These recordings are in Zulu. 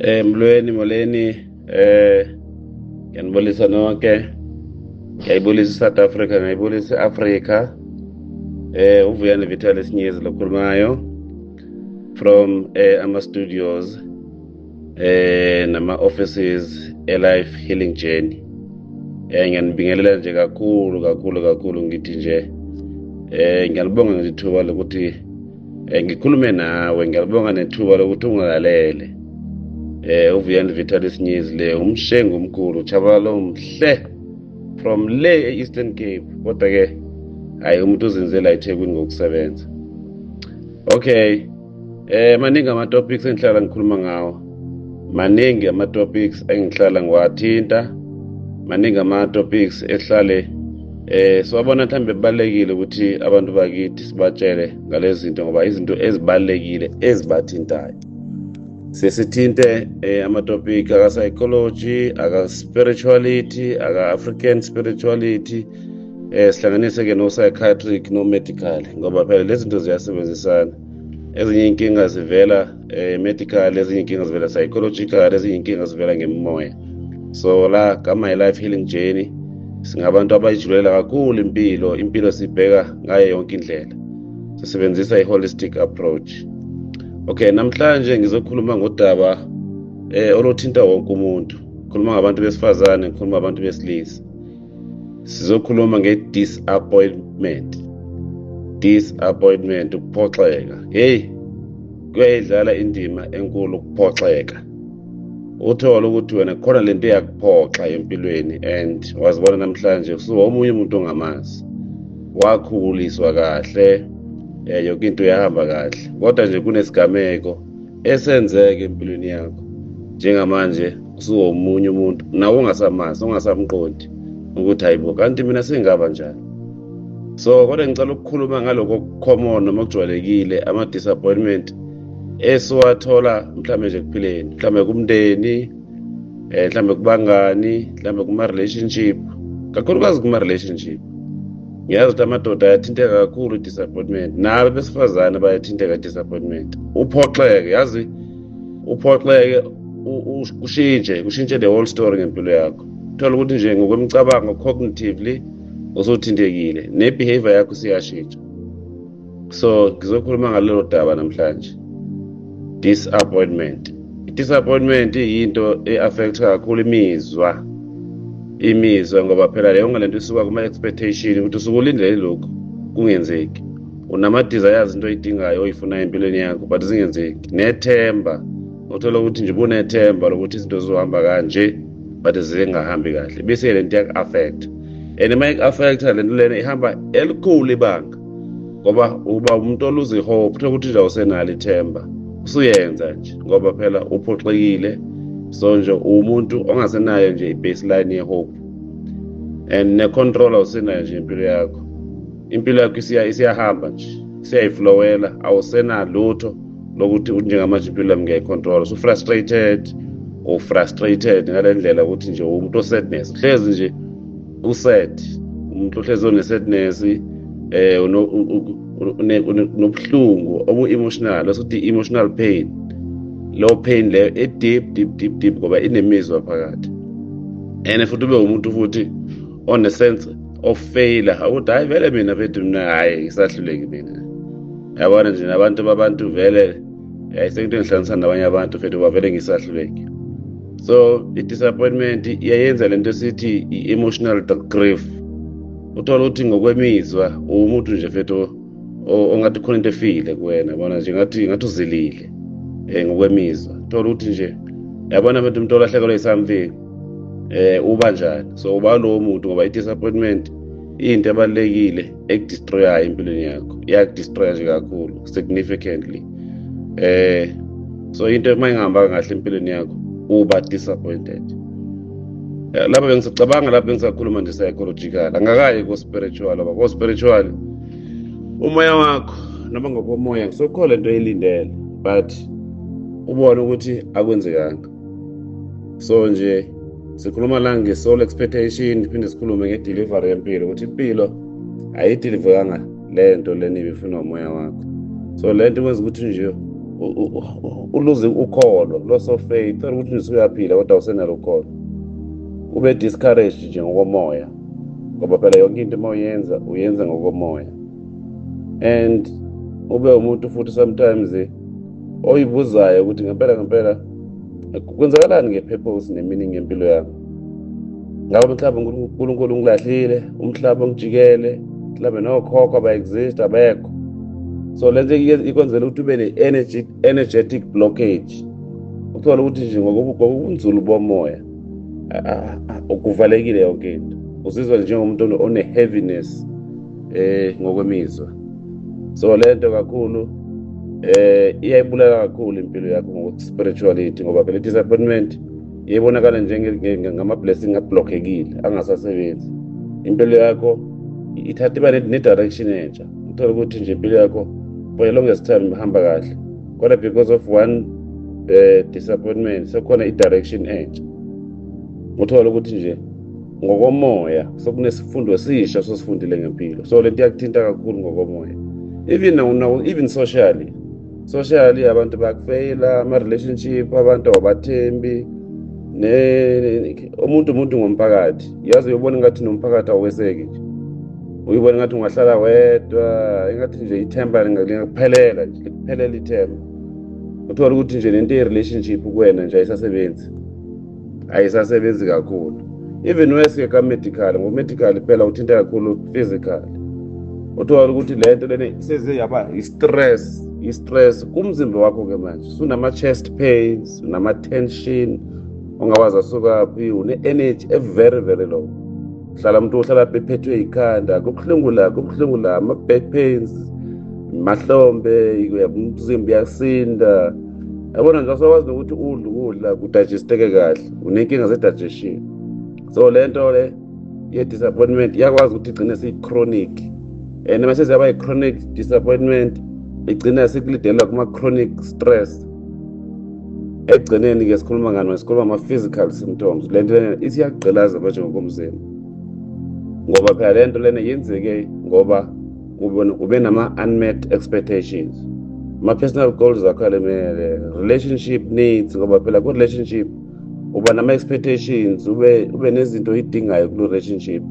Eh mlweni moleni eh ngiyanibulisa nonke ngiyayibulisa South Africa ngiyayibulisa Africa eh uvuyani Vital Sinyezi lokhulumayo from eh ama studios eh nama offices e life healing journey eh ngiyanibingelela nje kakhulu kakhulu kakhulu ngithi nje eh ngiyalibonga ngithuba lokuthi um ngikhulume nawe ngiyalibonga nethuba lokuthi ungilalele um uvuyani vitalis news le umshengu omkhulu chabalalo mhle from le e-eastern cape kodwa-ke hhayi umuntu uzinze la ethekwini ngokusebenza okay um maningi ama-topics engihlala ngikhuluma ngawo maningi ama-topics engihlala ngiwathinta maningi ama-topics ehlale eh siwabona mhlambe kubalekile ukuthi abantu bakithi sibatshele ngalezi zinto ngoba izinto ezibalekile ezibathintayo sesithinte eh, ama-topic aka-psychology aka-spirituality aka-african spirituality eh sihlanganise-ke no-psychiatric no-medical ngoba phela lezi zinto ziyasebenzisana ezinye inkinga zivela eh medical ezinye inkinga zivela psychological ezinye inkinga zivela ngemoya so la ka my life healing journey singabantu abayijulela kakhulu impilo impilo sibheka ngayo yonke indlela sisebenzisa i-holistic approach okay namhlanje ngizokhuluma ngodaba eh oluthinta wonke umuntu khuluma ngabantu besifazane khuluma abantu besilisa sizokhuluma nge-disappointment disappointment ukuphoxeka heyi kuyayidlala indima enkulu ukuphoxeka uthole ukuthi wena khona le nto eyakuphoxa empilweni and wazibona namhlanje usuwomunye umuntu ongamazi wakhuliswa kahle um yoke into yahamba kahle kodwa nje kunesigameko esenzeke empilweni yakho njengamanje usuwomunye umuntu nawe ungasamazi ungasamqondi ukuthi hayibo kanti mina sengaba njani so kodwa ngicela ukukhuluma ngalokho common noma kujwayelekile ama-disappointment esiwathola mhlawumbe nje kuphileni mhlawumbe kumndeni um eh, mhlawumbe kubangani mhlawumbe kuma-relationship kakhulukazi kuma-relationship ngiyazi ukuthi amadoda ayathinteka kakhulu i-disappointment nabo besifazane bayathinteka i-disappointment uphoxeke yazi uphoxeke ushintshe ushintshe the whole story ngempilo yakho thola ukuthi nje ngokwemicabango cognitively usuthintekile nebehavior yakho siyashintsha so ngizokhuluma ngalelo daba namhlanje disappointment i-disappointment yinto e-affect kakhulu imizwa imizwa ngoba phela leyo ngalento isuka kuma-expectation ukuthi usukulindele lokhu kungenzeki unama-desires into oyidingayo oyifunayo empilweni yakho but zingenzeki nethemba uthola ukuthi nje bunethemba lokuthi izinto zizohamba kanje but zingahambi kahle bese le nto yaku-affect and uma iku-affecta le nto lena ihamba elikhulu ibanga ngoba uba umuntu oluza ihope kuthiwa ukuthi nje awusenalo ithemba usuyenza nje ngoba phela uphoxekile so nje uwumuntu ongasenayo nje i-baseline yehope and ne-control awusenayo nje impilo yakho impilo yakho isiyahamba nje siyayiflowela awusenalutho lokuthi njengamanje impilo yami ngiyayicontrola usufrustrated ufrustrated ngale ndlela ukuthi nje umuntu osedness hlezi nje used umuntu ohlezi onesedness um unobuhlungu obu-emotional esokuthi i-emotional pain low pain leyo e-deep deep deep deep ngoba inemizwa phakathi and futhi ube umuntu futhi on a sense of failure ukuthi hayi vele mina bethu mina hayi isahluleki mina yabona nje nabantu babantu vele yayi sekuthi ngihlanganisa nabanye abantu fethu bavele ngisahluleki so i-disappointment iyayenza le nto esithi i-emotional grief uthola ukuthi ngokwemizwa uwumuntu nje fethu ongathi khona into efile kuwena bona nje ngathi ngathi uzilile um ngokwemizwa thola ukuthi nje yabona fethu umuntu olahlekelwe yi-something eh uba njani so uba lowo muntu ngoba i-disappointment into ebalulekile ekudistroyayo empilweni yakho iyakudistroya nje kakhulu significantly eh so into uma ingahambanga kahle empilweni yakho uba disappointed eh, lapha bengisacabanga lapha bengisakhuluma nje psychological angakaye ko-spiritual oba ko-spiritual umoya wakho noma ngokomoya kusokhona into eyilindele but ubone ukuthi akwenzekanga so nje sikhuluma la nge-soul expectation phinde sikhulume nge-delivery yempilo ukuthi impilo ayideliveranga le nto leni ibifuna umoya wakho so le nto kwenza ukuthi nje uluze ukholo loss of faith thola ukuthi nje uyaphila kodwa usenalo ukholo ube discouraged nje ngokomoya ngoba phela yonke into uma uyenza uyenza ngokomoya and ube umuntu futhi sometimes oyibuzayo ukuthi ngempela ngempela kwenzakalani nge-purpose ne-meaning yempilo yami ngaba mhlawumbe unkulunkulu ungilahlile umhlaba ungijikele mhlawumbe nokhokho aba-exist abekho so le nto ikwenzela ukuthi ube ne-energetic blockage uthole ukuthi nje ngokubunzulu bomoya kuvalekile yonke into uzizwa njengomuntu one-heaviness eh ngokwemizwa so lento kakhulu eh iyayibulala kakhulu impilo yakho ngokuthi spirituality ngoba phela disappointment iyibonakala njengama blessing ablockekile angasasebenzi impilo yakho ithatha iba ne direction entsha uthola ukuthi nje impilo yakho for a longest time ihamba kahle kodwa because of one uh, disappointment sekhona i direction entsha uthola ukuthi nje ngokomoya sokunesifundo esisha sosifundile ngempilo so lento iyakuthinta kakhulu ngokomoya even even socially socially abantu bakufeyila ama-relationship abantu abathembi umuntu umuntu ngomphakathi yazi uyobona ngathi nomphakathi aweseki nje uyibona ngathi ungahlala wedwa engathi nje ithemba lingakuphelela nje likuphelela ithemba uthola ukuthi nje lento ye-relationship kuwena nje ayisasebenzi ayisasebenzi kakhulu even weske ka-medical ngo-medical phela uthinta kakhulu physical uthola ukuthi le nto lena seze yaba i-stress i-stress kumzimba wakho-ke manje sunama-chest pains unama-tension ungawazi asukaphi une-energy every very low hlala umuntu uhlala bephethwe yikhanda kubuhlungu la kubuhlungu la ama-back pains mahlombe umzimba uyasinda yabona nje asekwazi nokuthi udla ukudla kudajisteke kahle unenkinga ze-digestion so le nto le ye-disappointment iyakwazi ukuthi igcine siyi-chronic and uma seziyaba yi-chronic disappointment igcina sikulidelela kuma-chronic stress ekugcineni-ke sikhuluma ngani sikhuluma ama-physical symptoms le nto lena ithi iyakugqilaza manje ngokomzimba ngoba phela le nto lena yenzeke ngoba ube nama-unmet expectations ama-personal goals akho alemele relationship needs ngoba phela ku-relationship uba nama-expectations ube, ube nezinto oyidingayo kulo relationship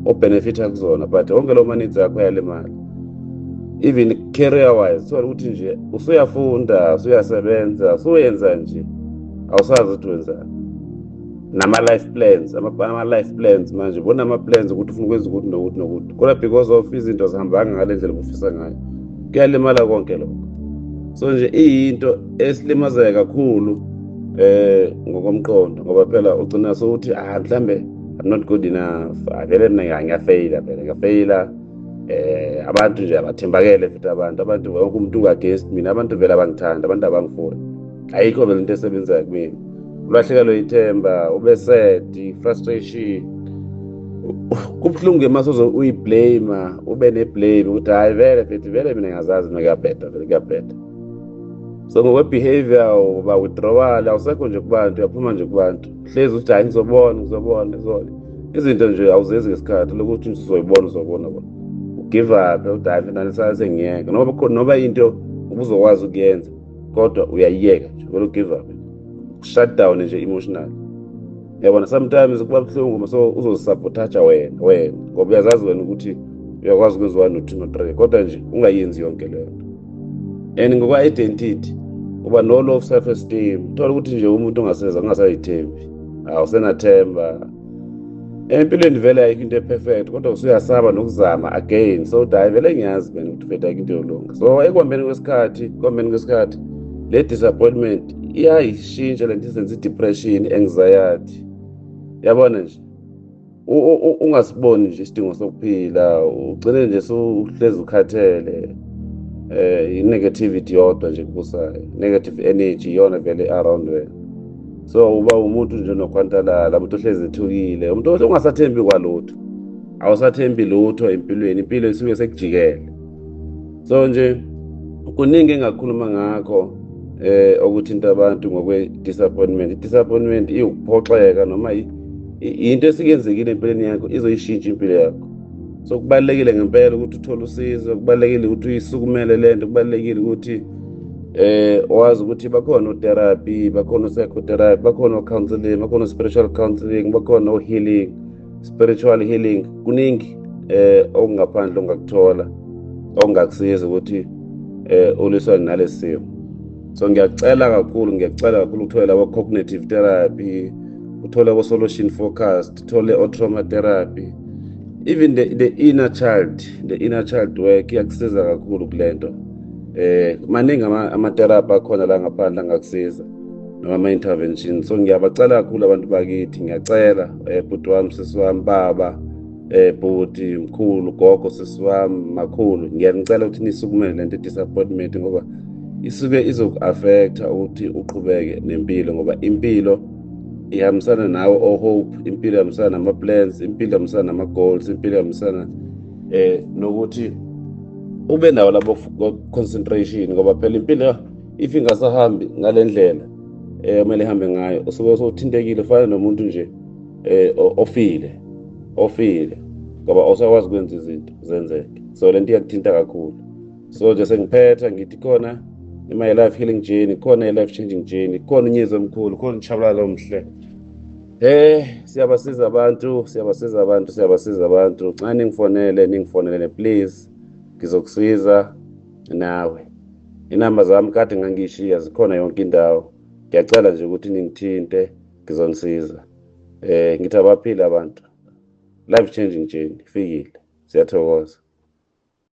obhenefitha kuzona but wonke lo manitsi akho yale mali even career wise thola ukuthi nje usuyafunda usuyasebenza usuyenza nje awusazi ukuthi wenzani nama-life plans ama-life plans manje bona ama-plans ukuthi ufuna ukwenza ukuthi nokuthi nokuthi kodwa because of izinto zihambanga ngale ndlela obufisa ngayo kuyalimala konke lokho so nje iyinto esilimazeke kakhulu eh ngokomqondo ngoba phela ugcina sokuthi ah mhlambe i'm not good enough avele mina ngiyafeyila phela ngiyafeyila eh abantu nje abathembakele futhi abantu abantu wonke umuntu unga-against mina abantu vele abangithanda abantu abangifuni ayikho mina into esebenzayo kumina ulahlekelwe ithemba ubesedi frustration kubuhlungu ke masoze uyiblame ube neblame ukuthi hayi vele bethi vele mina ngazazi mina kuyabheda vele kuyabheda so ngokwebehavior uba withdrawal awusekho nje kubantu uyaphuma nje kubantu hlezi ukuthi hayi ngizobona ngizobona ngizona izinto nje awuzenzi ngesikhathi lokuthi nje uzoyibona uzobona bona ugive up udayi finalisase ngiyeke noba noba into ubuzokwazi ukuyenza kodwa uyayiyeka nje vele ugive up shut down nje emotional yabona sometimes kuba buhlungu uma so uzozisabotaja wena wena ngoba uyazazi wena ukuthi uyakwazi ukwenza one no-two no-three kodwa nje ungayenzi yonke leyo nto and ngokwa-identity uba no-low self esteem thola ukuthi nje umuntu ongaseza ungasayithembi awusenathemba empilweni vele ayikho into eperfect kodwa usuyasaba nokuzama again so uthi hayi vele ngiyazi mina ukuthi vele ayikho into yolunga so ekuhambeni kwesikhathi ekuhambeni kwesikhathi le disappointment iyayishintsha le nto izenza i-depression anxiety yabona nje ungasiboni nje isidingo sokuphila ugcine nje suhlezi ukhathele eh i-negativity yodwa nje kubusayo negative energy iyona vele around wena so uba umuntu nje nokhwantalala umuntu ohlezi ethukile umuntu ongasathembi kwalutho awusathembi lutho empilweni impilo isuke sekujikele so nje kuningi engakhuluma ngakho eh okuthinta abantu ngokwe disappointment disappointment iwukuphoxeka noma into esikenzekile empilweni yakho izoyishintsha impilo yakho so kubalulekile ngempela ukuthi uthole usizo kubalulekile ukuthi uyisukumele le nto kubalulekile ukuthi eh wazi ukuthi bakhona otherapy bakhona psychotherapy bakhona counseling bakhona spiritual counseling bakhona healing spiritual healing kuningi eh okungaphandle ongakuthola ongakusiza ukuthi eh uliswa nalesimo so ngiyacela kakhulu ngiyacela kakhulu uthole labo cognitive therapy uthole abo solution focus sithole o-trauma therapy even the, the inner child the inner child work iyakusiza kakhulu kule nto eh maningi amatherapy akhona la ngaphandle angakusiza noma ama-intervention so ngiyabacela kakhulu abantu bakithi ngiyacela um eh, bhuti wami sisi wami baba eh bhuti mkhulu gogo sisi wami makhulu ngiyanicela ukuthi nisukumele lento disappointment ngoba isuke izoku-affecta ukuthi uqhubeke nempilo ngoba impilo ihambisana nawe ohope oh, impilo ihambisana nama-plans impilo ihambisana nama-goals impilo ihambisana um eh, nokuthi ube nawo labo concentration ngoba phela impilo if ingasahambi ngale ndlela um kumele ihambe ngayo usuke sowuthintekile ufana nomuntu nje um ofile ofile ngoba osakwazi ukwenza izinto zenzeke so le nto iyakuthinta kakhulu so nje sengiphetha ngithi khona my life healing journey khona i-life changing journey khona unyezi omkhulu khona utshabalala omhle Eh siyabasiza abantu siyabasiza abantu siyabasiza abantu nxa ningifonele ningifonelele please ngizokusiza nawe inamba zami kade ngangiyishiya zikhona yonke indawo ngiyacela nje ukuthi ningithinte ngizonisiza eh ngithi abaphile abantu life changing journey fikile siyathokoza